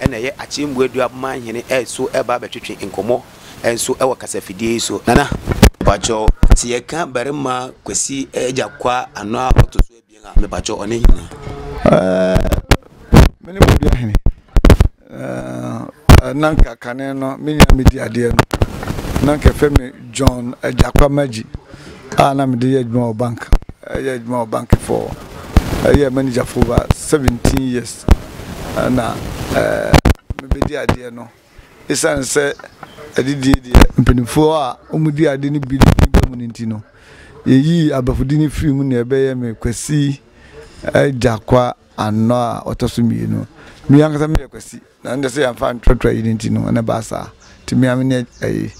Ɛna ɛyɛ Akyembu Adua man hene so ɛreba abɛtwetwe nkɔmmɔ nso wɔ kasafidie yi so. Nana, mepakyɛw, sɛ yɛka barima Kwasi agya Kwa ano a ɔto so abien a, mepakyɛw, ɔne hena? Ɛɛh, mene Bodua hene. Ɛɛh, na nka kane no me nua medi adeɛ no, na nka yɛfrɛ me John agya Kwa Magyi. a na mede yɛ adwuma wɔ bank yɛ adwuma wɔ bank for ɛyɛ manager for over seventeen years ɛna mebɛdi adeɛ no ɛsiane sɛ adidie deɛ mpanimfoɔ a wɔdi ade no bi ba mu no nti no yɛyii abafodi no firi mu na ɛbɛyɛ me kwasi agya kwa anɔ a ɔtɔ so mmienu me ankasa meyɛ kwasi Na ndɛ sɛ yɛmmfa nntrɔtrɔ ayi no ntsi no nna ɛbaa saa. Ntsi me ara me ne ayi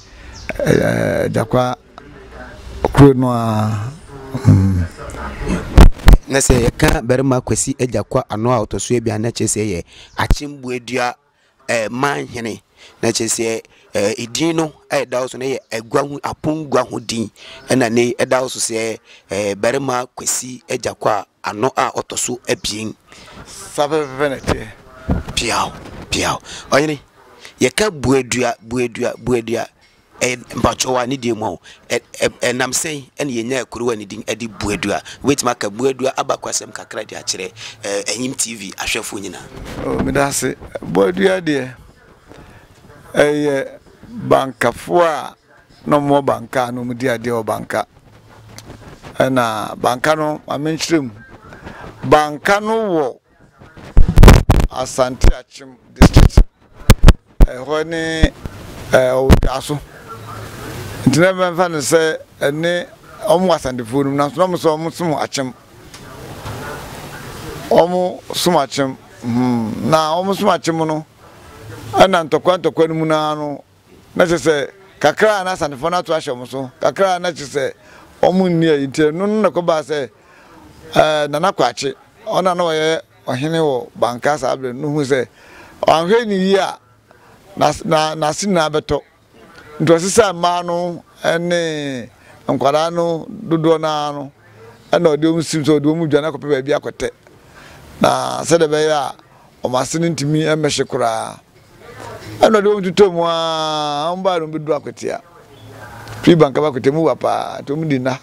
Agyakwaa kor no ara mm. Na sɛ yɛka Barima Kwesi Agyakwaa ano a ɔtɔ so ebien a na kyerɛ sɛ yɛ Akyembuadua manhene na kyerɛ sɛ. Edin no a ɛda hɔ so no yɛ agua ho apongua ho din, ɛna nnɛ yi ɛda hɔ so sɛ barima Kwesi Agyakwa a ano a ɔtɔ so abien. Saa pɛpɛpɛpɛ na ɛteɛ. Piaw, piaw. Ɔhene, yɛka Buadua, Buadua, Buadua a, ɛyɛ mpakyɛw a ne deɛ mu a o, ɛnam sɛn na yɛnyaa kurow a ne din de Buadua? Wobɛtumi aka Buadua abakɔsɛm kakra de akyerɛ Anyim TV ahwɛfoɔ nyinaa? Oh, meda ase. Buadua deɛ, Ɛyɛ bankafo a na ɔmo wɔ banka a na ɔmo di adeɛ wɔ banka. Ɛna banka no maame nkyerɛ mu. Banka no wɔ Asante Akyem district. Ɛhɔ ne ɛɛ Owotaaso. Nti na mɛmfa no sɛ ɛne ɔmo wɔ Asantefoɔ nom nanso na ɔmo sɛ ɔmo som Akyem. wɔn somakyem hmm na wɔn somakyem no ɛna ntɔkwa ntɔkwa no mu no ara no na kyerɛ sɛ kakra a na asanefoɔ no ato ahyɛ wɔn so kakra a na kyerɛ sɛ wɔn nni ayi nti ɛno no na ɛkɔbaa sɛ ɛɛ Nana Kwakye ɔno a na ɔyɛ ɔhene wɔ Banka saa berɛ no hu sɛ ɔanhwɛ ne yie a n'ase n'ase nyinaa bɛtɔ. Nea ɔte sɛ mmaa no ne nkwadaa no dodoɔ no ara no na ɔde wɔn si mu sɛ ɔde wɔn dwane akɔpɛ baabi akɔtɛ, na sɛdeɛ ɛbɛyɛ a wɔn ase no ntumi mmɛhye koraa. Ɛnna ɔde wɔn totɔɔ mu ara, wɔn baeɛ no wɔbɛduru Akwatia. Firi Bankaba Akwatia, mu wa paa, nti wɔde nna.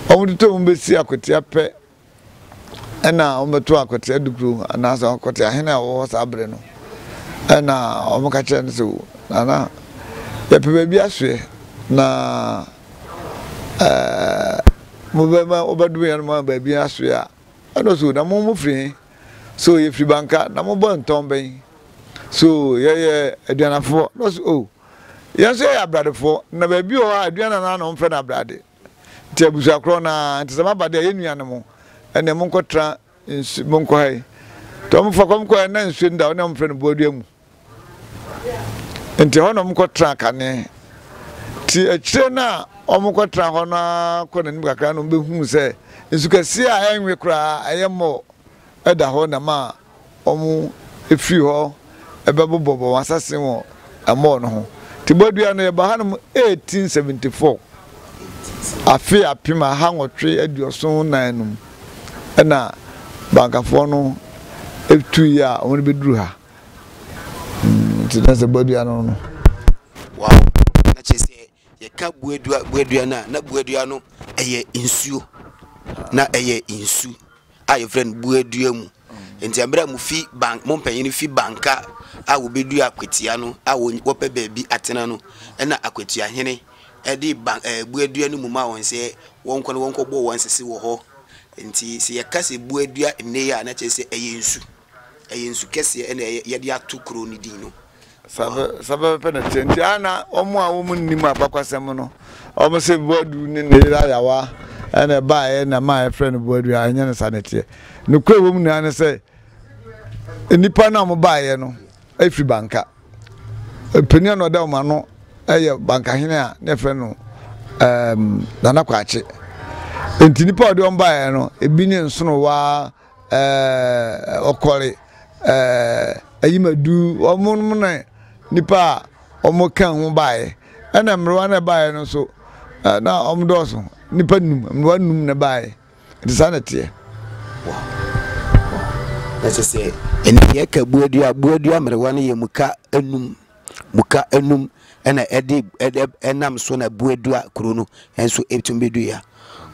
Wɔtotɔɔ mu bɛsi Akwatia pɛ, Ɛna wɔbɛto akwatia dukuro anaasɛ akwatia hene a wɔwɔ hɔ saa berɛ no. Ɛna wɔka kyerɛ no sɛ, o Nana, yɛpɛ baabi asoɛ na ɛɛ mobɛma wobɛdome yɛn ma baabi asoɛ a. Ɛna ɔsɛ o na mo mofiri he? So yɛfiri Banka. Na mobɔ ntɔn bɛn? So yɛyɛ aduanafoɔ. Na ɔsɛ o yɛn nso yɛyɛ abradefoɔ na baabi wɔ hɔ a aduana no ara na wɔfrɛ no abrade. Nti abusua korɔ no ara, nti sɛ maba deɛ yɛ nuanom ɛneɛ monkɔ tra nsu monkɔ ha yi. Nti wɔn fa kɔm kɔɛ na nsuo no da hɔ na wɔn frɛ no boadua mu. Nti hɔ na wɔn kɔ tra kane. Nti akyire no a wɔn kɔ tra hɔ no ara kɔ n'anim kakra na wɔn bɛhuu sɛ nsu kɛseɛ a ɛnwe koraa ɛyɛ mɔɔ ɛda hɔ na ma wɔfiri hɔ bɛbobɔbɔ wɔn asase wɔ ɛmɔɔ no ho. Nti bɔdua no yɛbaa hanom 1874, afe apem aha nwɔtwe aduɔson nnan no mu na Bankafoɔ no tuiɛ a wɔbɛduru ha. Nti na sɛ bɔdua no no. Wow! Na kyerɛ sɛ Yɛka boadua boadua no a, na boadua no ɛyɛ nsuo, na ɛyɛ nsu a yɛfrɛ no boadua mu. Nti mmerɛ a mofi ban mo mpanyini fi banka a wɔbɛdua akwatia no a wɔpɛ baabi atena no, ɛna akwatia hene ɛde ban ɛɛ boadua no mu ma wɔn sɛ wɔnkɔ no wɔnkɔbɔ wɔn sese wɔ hɔ. Nti sɛ yɛka sɛ boadua nnɛ yi a na kyerɛ sɛ ɛyɛ nsu. ɛyɛ nsu kɛseɛ ɛna yɛde ato kuro no din no saa pɛpɛpɛ na teɛ nti a na wɔn a wɔn nnim abakɔsɛm no wɔn sɛ boadu ne ne yere ayawa ɛna ɛbaeɛ na maa yɛfrɛ no boadu a ɛnyɛ no saa na teɛ nokorɛ wɔ mu nyinaa ne sɛ nnipa no a wɔbaeɛ no ɛfiri banka panin a na ɔda wɔn ano ɛyɛ bankahene a na yɛfrɛ no ɛɛm nana kwakye nti nnipa a wɔde wɔn baeɛ no ebi ne nsono waa ɛɛ ɔkɔre, ɛɛ ayimadu, wɔnom ne nnipa a wɔka ho baeɛ. Ɛna mmerewa no a ɛbaeɛ no nso, na wɔdɔɔso, nnipa nnum, mmerewa nnum na ɛbaeɛ. Nti saa na ɛteɛ. Wow. Wow. Na sɛ sɛ ɛnɛ yɛka buadua, buadua mmerewa no yɛ mu ka nnum. muka anum na ɛde ɛde ɛnam so na bu edu a kuro no nso ɛtumi bɛdu yɛ a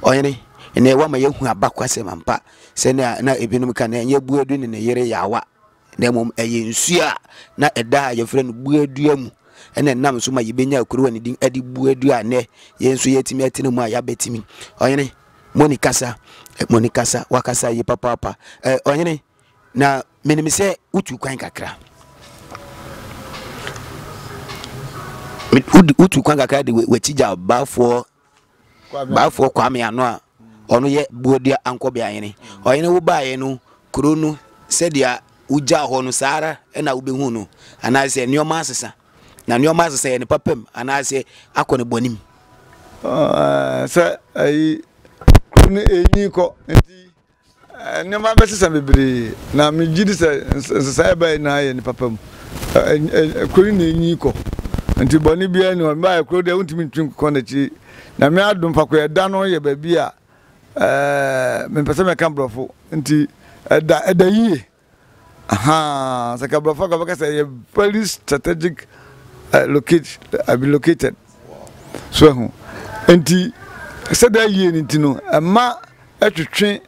ɔhene ɛnɛ woama yɛahu abakwasɛm ampa sɛnea na ebinom ka no ɛnyɛ buadu ne ne yere yaawa na mmom ɛyɛ nsuo a na ɛda a yɛfrɛ no buadua mu ɛna ɛnam so ma yɛbɛnya kuro a ne din ɛde buadua a nnɛ yɛn nso yɛatumi atena mu a yɛabɛtumi ɔhene moni kasa moni kasa wakasa yi papaapa ɛ ɔhene Na menim sɛ wotuu kwan kakra, wotuu kwan kakra de w'akyi gya baafoɔ baafoɔ Kwame ano a ɔno yɛ Boadua Ankɔbea hene. Ɔhene wo baeɛ no, kuro no sɛdeɛ wogyaa hɔ no saa ara na wobɛhu no, anaasɛ nneɛma asesa. Na nneɛma asesa yɛ ne papa mu anaasɛ akɔ ne bɔne mu. Sɛ ayi kuro no ɛnyi kɔ nti Nneɛma bɛsesa bebree, na megye di sɛ nsesae a ɛbae nyinaa yɛ ne papa mu. Kuro no na enyin kɔ, nti bɔne biara nni hɔ. Mebae kuro deɛ wontumi ntwi nkɔ n'akyi. Nyame adom, Fakoyɛ da no yɛ baabi a mempɛ sɛ mɛka Borɔfo nti ɛda yie. Ahaa sɛ ka brɔfo a ka bɛka sɛ ɛyɛ very strategic uh, locate, uh, be located so ahu nti sɛdeɛ ayie no nti no ɛma ɛtwetwe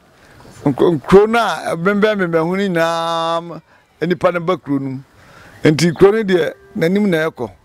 nkuro no a ɛbɛnbɛnbɛnbɛn ho no nyinaa nnipa no ba kuro no mu nti kuro no deɛ n'anim na ɛkɔ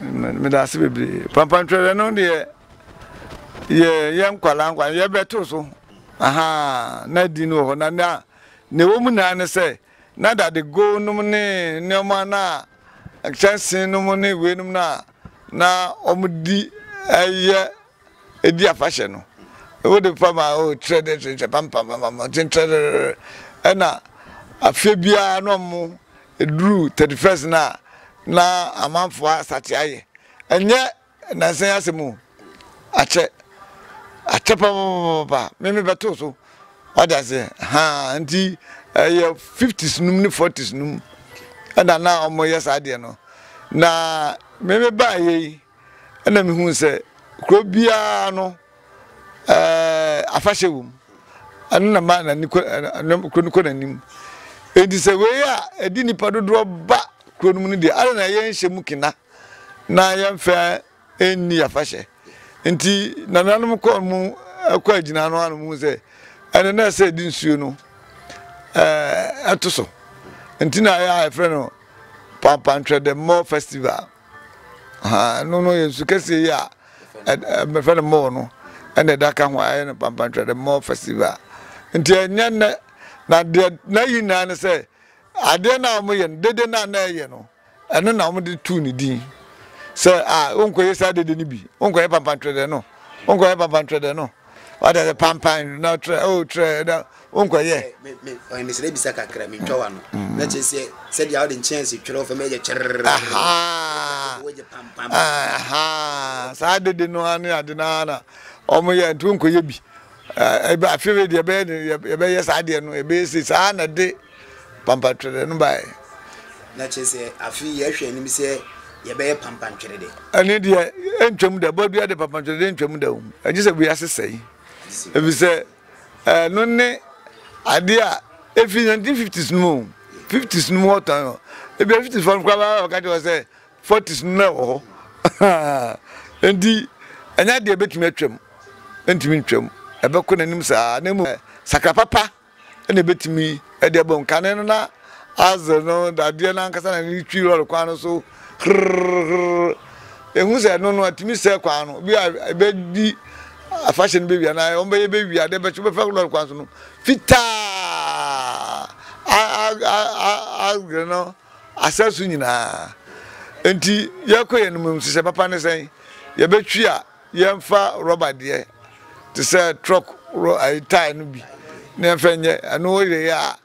meda ase bebree pampan twɛrɛ no deɛ yɛ yɛ nkwalaa nkwalaa yɛbɛto so aha na di no wɔ hɔ na na na ɛwɔ mu nyinaa ne sɛ na dade go nom ne nneɛma na kyɛnse nom ne wei nom na na wɔn di ɛyɛ Edi afahyɛ no, wode pam a, oh, trɛ dɛ trɛ trɛ, pam pam pam pam, ɔkyen trɛrɛrɛrɛ. Ɛna afe biara na ɔmo eduru thirty first no a, na amanfoɔ asate ayɛ. Ɛnyɛ nansa yi asɛm o, akyɛ, akyɛ papapapapa, me me bɛto so, wate aseɛ, haa, nti ɛyɛ fifties nom ne forties nom ɛna na ɔmo yɛ saa adeɛ no, na me me baayɛ yi. ɛna mehuu sɛ kuro biara no ɛɛ afahyɛ wɔ mu ɛno na maa n'ani kɔ ɛɛ kuro no kɔ n'anim eti sɛ wei a ɛdi nipa dodoɔ ba kuro no mu no deɛ ara na yɛnhyɛ mu kena na yɛnfɛ ɛnni afahyɛ nti nananom kɔɔ mu ɛkɔ agyina ano ano mu sɛ ɛno na ɛsɛ ɛdi nsuo no ɛɛ ɛto so nti na ayɛ a yɛfrɛ no pampantwɛdɛmmɔ festival. Ahaa, ɛno no yɛ nsu kɛseɛ yi a mmɛfrɛ no mall no ɛna ɛda ka ho a ɛyɛ no pampantwerɛ the mall festival nti ɛnyɛ nnɛ na deɛ na yi nyinaa ne sɛ adeɛ no a wɔyɛ no dede no a na ɛyɛ no ɛno na wɔde tuu ne din sɛ a wonkɔyɛ saa dede no bi wonkɔyɛ pampantwerɛ dɛ no wonkɔyɛ pampantwerɛ dɛ no What are the pampan? No try, oh try, no unkwa ye. Ɔyɛ mesrɛ bisa kakra mentwa wa no mm. na kyerɛ sɛ sɛdeɛ wode nkyɛnse twerɛ fam ɛyɛ kyerɛrɛ saa dede no ane ade no ara na ɔmoyɛ nti wonkɔyɛ bi afei deɛ yɛbɛyɛ saa deɛ no ɛbɛyɛ sei saa na de Pampatwerɛ no baeɛ. Na kyerɛ sɛ, afei yɛhwɛ anim sɛ yɛbɛyɛ pampantwerɛ dɛ. Ɛno deɛ, ɛntwam da. Bɔdua de pampantwerɛ deɛ ɛntwam da o. Ɛgye sɛ wiase sɛe. Ɛfiri sɛ, ɛno ne adeɛ a ɛfiri 1950s no mu o. 50s no mu wɔtɔn no. Ebia 50s foɔ no koraa bɛba abɛka kyerɛ wo sɛ 40s no na ɛwɔ hɔ. Enti, ɛnyɛ adeɛ a ɛbɛtumi atwam. Ɛntumi ntwam. Ɛbɛkɔ n'anim saa. Na mmom, sakra papa na ebetumi de abom. Kane no na Azer no dadeɛ no ankasa na ne twi lɔre kwan no so hrrrrrrr. Ehu sɛ ɛno no atumi sɛe kwan no. Bi a ebedi afahyɛ no bɛwie anaa wɔbɛyɛ bɛwie adeɛ bɛkye bɛfa lɔre kwan so no fitaa Azer no asɛ so nyinaa. Nti yɛkɔ yɛn no mu nhyehyɛ papa ne sɛn? Yɛbɛtwi a. Yɛmfa rɔba deɛ te sɛ trɔk rɔ ayi tae no bi na yɛmfa nyɛ ɛno woyɛyɛ a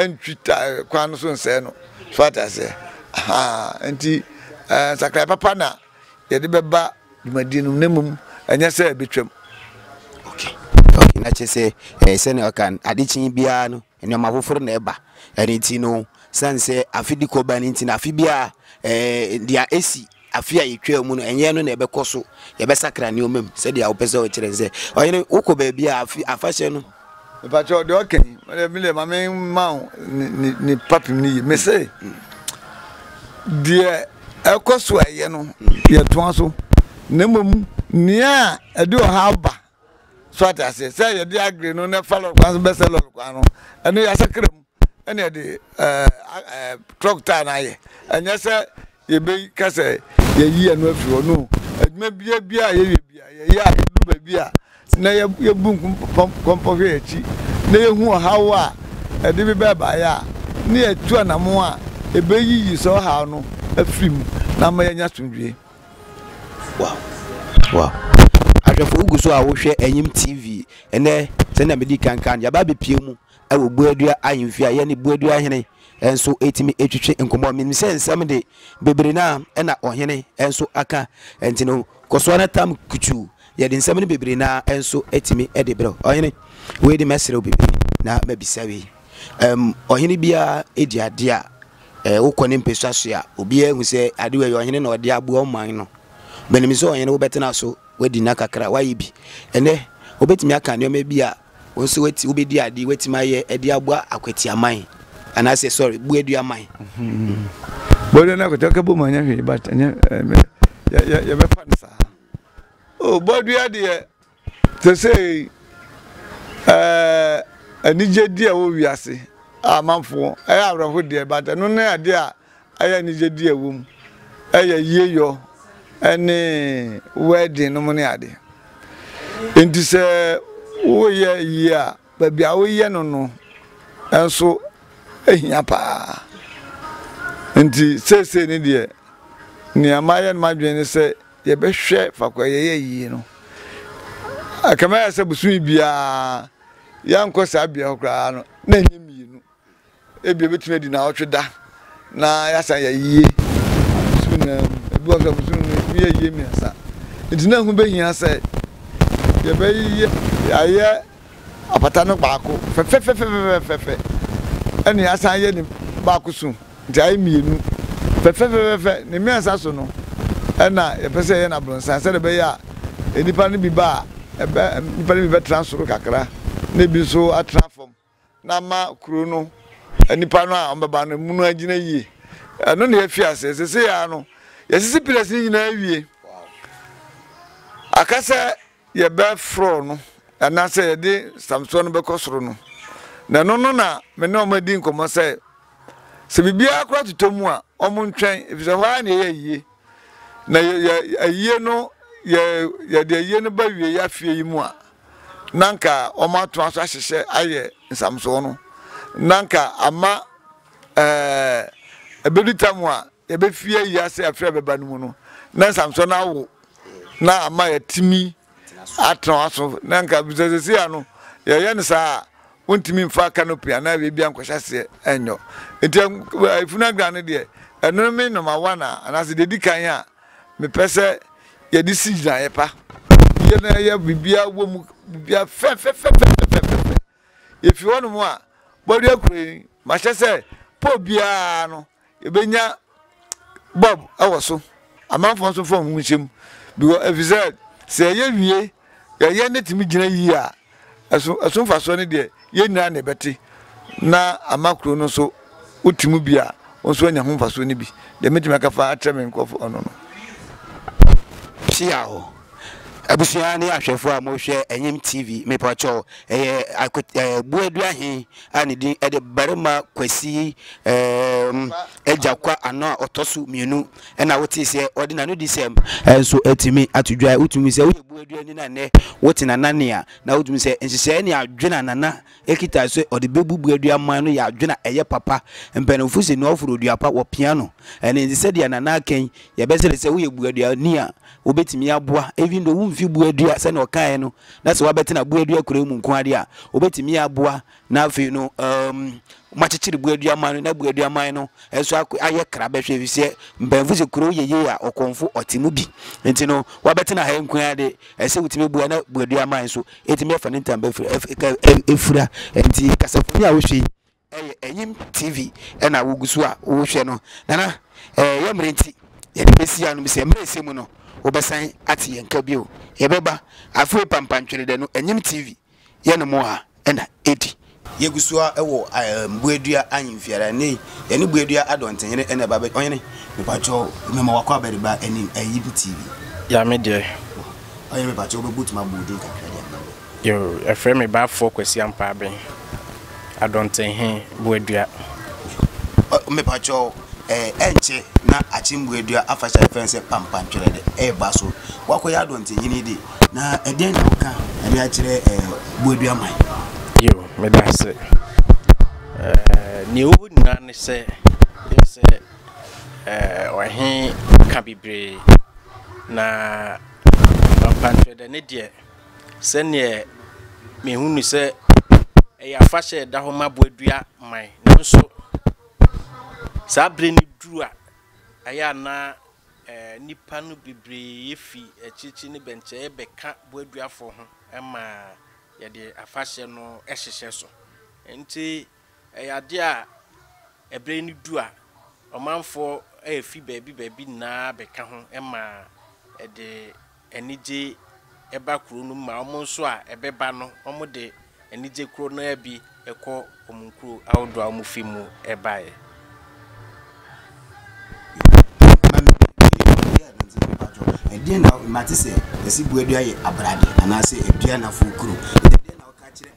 ɛntwi tae kwan no so nsɛe no so ate aseɛ ahaa nti ɛɛ nsakraeɛ papa na yɛde bɛba dwumadie no mu na mmom ɛnyɛ sɛ ɛbɛtwam okay okay na kyerɛ sɛ ɛɛ sɛnea ɔka adekye biara no Nneɛma foforo na ɛba. Ɛno nti no, esiane sɛ afe di kɔ ba no nti no, afe biara ɛɛ deɛ esi afe a yɛtwaa mu no, ɛnyɛ ɛno na ɛbɛkɔ so. Yɛbɛsakra nneɛma mu sɛdeɛ wopɛ sɛ wokyerɛ no sɛ. Ɔhene, wokɔ baabi a afe afahyɛ no. Mepakyɛw, deɛ ɔka yi, me deɛ, me deɛ ma memma wo ne, ne, ne fapem no yie. Mese, deɛ ɛkɔ so a ɛyɛ no, yɛtoa so. Na mmom nea ɛde ɔhaw ba So ate aseɛ? Sɛ yɛde agri no na fa lɔre kwan so bɛsɛ lɔre kwan no, ɛno yɛasakra mu ɛna yɛde ɛɛ truck taa na ayɛ. Ɛnyɛ sɛ yɛbɛyi ka sɛ yɛyi ɛno afiri hɔ no. Adwuma bia bia a yɛyɛ bia yɛyɛ a yɛdu baabi a na yɛbu nkɔmpɔ hwɛ yɛakyi na yɛhu ɔhaw a ɛde bi bɛbaeɛ a ne yɛtu anamo a ɛbɛyiyi sɛ ɔhaw no afiri mu na ama yɛanya asomdwie. Wow wow ahwɛfo wogu so a wohwɛ Enyim TV. Ndɛ sɛnea medii kan kaa no, yɛaba abepue mu wɔ Buadua ahemfie a yɛne Buadua hene nso etumi etwetwe nkɔmmɔ. Minim sɛ nsɛm de bebree no a na ɔhene nso aka nti no, kɔ so ara tam kutuu. Yɛde nsɛm no bebree no ara nso etumi de brɛ wo. Ɔhene, wei de mɛsrɛ wo biribi na mabisa wei. Ɛm, ɔhene biara di adeɛ a Ɛɛ, wokɔ ne mpasua so a, obiara hu sɛ ade wei yɛ ɔhene na ɔde aboa ɔman no. But nim sɛ ɔhene wobɛtena so, woadi nna kakra, woayɛ bi. Ɛnnɛ, wobɛtumi aka nneɛma bi a wo nso woati, wobɛdi ade, woatumi ayɛ de aboa akwati aman. Anaasɛ, sorry, buadua aman. Mm-hmm. Buadua no akwati ɔka bom anyɛ hwee, but ɛnyɛ, eh, yɛbɛfa no saa. Oh, buadua deɛ, Sesei, eh, anigyedi a ɛwɔ wiase a amanfoɔ, ɛyɛ awerɛho deɛ, but ɛno ne adeɛ a ɛyɛ anigyedi a ɛwɔ mu, ɛyɛ yieyɔ ɛne wedding no mo ne adeɛ. Enti sɛ woyɛ yie a, baabi a woyɛ no no nso ehia paa. Enti seesei ne deɛ, nea mayɛ no m'adwene ne sɛ, yɛbɛhwɛ faako a yɛyɛ yie no. Ɛkame ayɛ sɛ bosome biara yɛankɔ saa bea hɔ koraa no, na ɛnyɛ mmienu. Ebia ɛbɛtumi adi naawɔtwe da na yɛasan yɛ yie bosome nyinaa mu. Ebi wɔ so a bosome mu yɛtumi yɛ yie mmiɛnsa. Nti na ɛho bɛhia sɛ yɛbɛyɛ. Yɛayɛ Apata no baako fɛfɛfɛfɛfɛfɛfɛ ɛna y'asan yɛ ne baako so nti ayɛ mmienu fɛfɛfɛfɛfɛ ne mmiɛnsa so no ɛna yɛpɛ sɛ yɛyɛ no abrɔnsan sɛdeɛ ɛbɛyɛ a nnipa no bi ba a ɛbɛ nnipa no bi bɛtena soro kakra na ebi nso atena fam na ama kuro no nnipa no a wɔbɛba no mu no agyina yie ɛno na yɛafi aseɛ sese yɛ ano yɛsisi pillars no nyinaa wie akasɛ. yɛbɛforɔw no anaasɛ yɛde Samsoɔ no bɛkɔ soro no. Na ɛno no na me ne wɔn adi nkɔmmɔ sɛ, sɛ biribiara koraa totɔ mu a, wɔntwɛn, efisɛ hɔ ara na ɛyɛ ayie. Na yɛ, yɛ, ayie no, yɛ, yɛde ayie no ba wie yɛ afie yi mu a, na anka wɔatoa so ahyehyɛ ayɛ nsamsoɔ no. Na anka ama ɛɛ, ɛbɛdu tam a yɛbɛfie ayi ase afiri a ɛbɛba no mu no, na nsamsoɔ no awo na ama yɛatumi atena w'aso na nka bisa sɛsi a no yɛyɛ no saa a wontumi mfa canopy anaa baabi a nkɔhyɛ aseɛ nyɔ nti efunu adwan no deɛ ɛno me noma wa na anaasɛ deɛ di kan a mepɛ sɛ yɛde si gyinaeɛ pa yɛ na yɛ biribiara wɔ mu biribiara fɛfɛfɛfɛfɛfɛ yɛfi hɔ nom a bɔdeɛ kuro yi mahyɛ sɛ pɔ biara no yɛbɛnya bɔb wɔ so, amanfoɔ nso mfa wɔn ho nhyɛ mu, because ɛfiri sɛ sɛ yɛyɛ wie yɛyɛ ne tumi gyina yie a ɛso ɛso mfasoɔ no deɛ yɛn nyinaa na ɛbɛte na ama kuro no nso wote mu bi a wɔn nso anya ho mfasoɔ no bi deɛ mɛtumi aka fa akyerɛ me nkurɔfoɔ ɔno no. Hyia o abusua ne ahwɛfoɔ a mohwɛ ɛnyem tv mepɔkyɛw ɛyɛ akut ɛɛ buadua he a ne din de Barima Kwasi eem Agya-Kwa Ano a ɔtɔ so mmienu na wotee sɛ ɔde n'anodisɛm nso atumi ato dwa. Wotumi sɛ woyɛ Buaduani no a nnɛ wote Nana nne a, na wotumi sɛ nhyehyɛeɛ ne adwene a Nana kita sɛ ɔde bɛbu Buadua man no yɛ adwene a ɛyɛ papa. Mpanimfo se nea ɔforo dua pa wɔpia no. Ɛno nti sɛdeɛ Nana aka yi, yɛbɛsrɛ sɛ woyɛ Buaduani a wobɛtumi aboa even though womfi Buadua sɛdeɛ ɔkaeɛ no, na sɛ wabɛtena boadua kurow mu nko ade a, obetumi aboa, na afei no, um, wɔakyekyere boadua man no, na boadua man no nso ayɛ kra bɛhwɛ, efisɛ mpanyinfo sɛ kurow yɛ yie a, ɔkɔmfo ɔte mu bi. Nti no, wabɛtena ha nko ade, ɛsɛ wotumi boa na boadua man nso etumi afa ne ntam bɛfura, efura. Nti kasafoni a wohwɛ yi, Ɛyɛ Enyim TV na wogu so a wohwɛ no. Nana, yɛ mber ntsi yɛdze besi ha no, mese mber a esi mu no wobɛsan atse yɛn nka bio. Yɛbɛba afei Pampantwerɛdɛ no Enyim TV yɛ no mo a na edi. Yegu so a wɔ Mbuadua Ahemfiara. Ndɛ yi yɛne Mbuadua Adɔntsenhene na ɛba abɛgye. Ɔhene, mepakyɛw mema w'akɔaba de ba Enyim TV. Yame deɛ. Ɔhene mepakyɛw wobɛbotumi abɔ wo din kakra de ama me? Yoo, yɛfrɛ me baafoɔ Kwasi Ampaaben, Adɔntenhe, Boadua. Mepakyɛw, ɛnkyɛ na Akyem Boadua afahyɛ a yɛfrɛ no sɛ Pampantwerɛ no reba so. Woakɔyɛ Adɔntenhene de, na ɛdeɛn na woka de akyerɛ Boadua man? Yoo, meda ase. Nea ɛwɔ mu nyinaa ne sɛ, yɛ sɛ ɔhe ka bebree, na Pampantwerɛ da ne deɛ, Sɛdeɛ mehu no sɛ ɛyɛ afahyɛ a ɛda hɔ ma boadua man. Nanso saa berɛ no duru a, ɛyɛ a na nnipa no bebree fi akyirikyiri ne bɛnkyɛeɛ bɛka boaduafoɔ ho ma yɛde afahyɛ no hyehyɛ so. Nti. Ɛyɛ adeɛ a ɛberɛ yi no du a, ɔmanfoɔ refi baabi baabi nyinaa bɛka ho ma ɛde anigye ba kuro no mu ma wɔn nso a ɛbɛba no wɔde anigye koro no ara bi kɔ wɔn nkuro ahodoɔ a wɔfi mu baeɛ.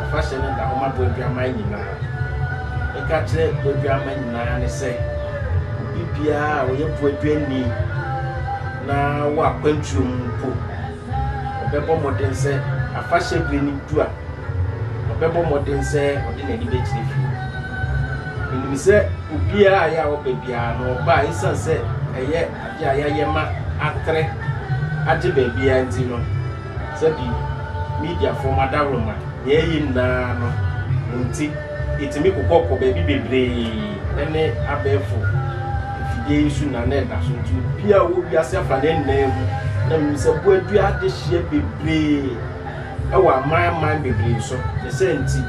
Afahyɛ no da hɔ ma bɔadwamma nyinaa. Yɛka kyerɛ bɔadwamma nyinaa ne sɛ, obi biara a ɔyɛ bɔadwamni na wɔ akwantuo mu mpo, ɔbɛbɔ mmɔden sɛ afahyɛ berɛ no du a, ɔbɛbɔ mmɔden sɛ ɔde n'ani bɛkyerɛ fie. Menim sɛ obiara a yɛ a ɔba biara no, ɔba a ɛsiane sɛ ɛyɛ adeɛ a yɛayɛ ma atere agye baabiara nti no, Sɛbi, mediafoɔ mo adaworoma, nea ɛyɛ nyinaa no mo nti, ɛtumi kokɔ kɔ baabi bebree ɛne abɛɛfo mfidie yi so na na ɛda so nti obiara ɔwɔ wiase afa ne nnan mu na menim sɛ boadua adehyeɛ bebree ɛwɔ aman aman bebree so ne sɛ nti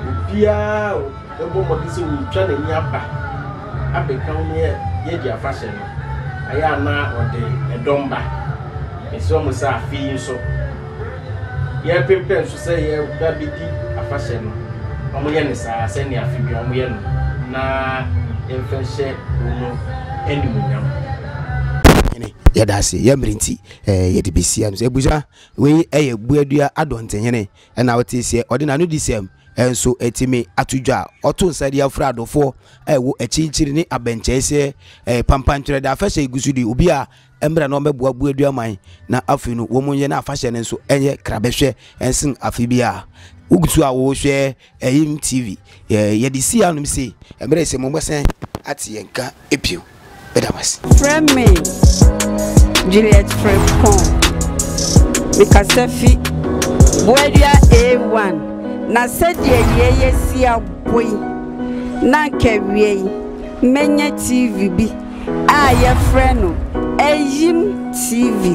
obiara bɛbɔ mmɔden sɛ wɔretwa n'ani aba abɛka wo ne yɛadi afahyɛ no, ɛyɛ a na ɔde dɔm ba. Mesrɛ mo sɛ afe yi nso, yɛrepempɛn so sɛ yɛba bɛdi afahyɛ no, wɔnyɛ no saa sɛnea afe biara wɔyɛ no na yɛmfa nhyɛ kuo no animuonyam. Hene, yɛda ase. Yɛ mmerɛ nti, yɛde bɛsi ano sɛ, Abusua, wei yɛ Buadua Adɔntenhene. Ɛnna ɔtee sɛ ɔde n'anodisɛm nso atumi ato dwa. Ɔtoo nsa de afura adɔfoɔ a ɛwɔ akyirikyiri ne abɛnkyɛe sɛ pampan twerɛdɛ afahyɛ regu so de obi a mmra na ɔmmɛboa bu aduaman na afei no wɔnyɛ na afahyɛ no nso nyɛ krabɛhwɛ nsen afe biara. Wogu so a wɔrehwɛ AIM TV. Yɛde sii anom sei mmerɛ sɛ mommɛsan ate yɛn nka. bio. Meda mo ase. Frɛ me Juliet Frimpong. Mekasa fi Boadua A1. Na sɛdeɛ yei asi abɔ yi, na anka awiei mɛnya TV bi a yɛfrɛ no Ayim TV.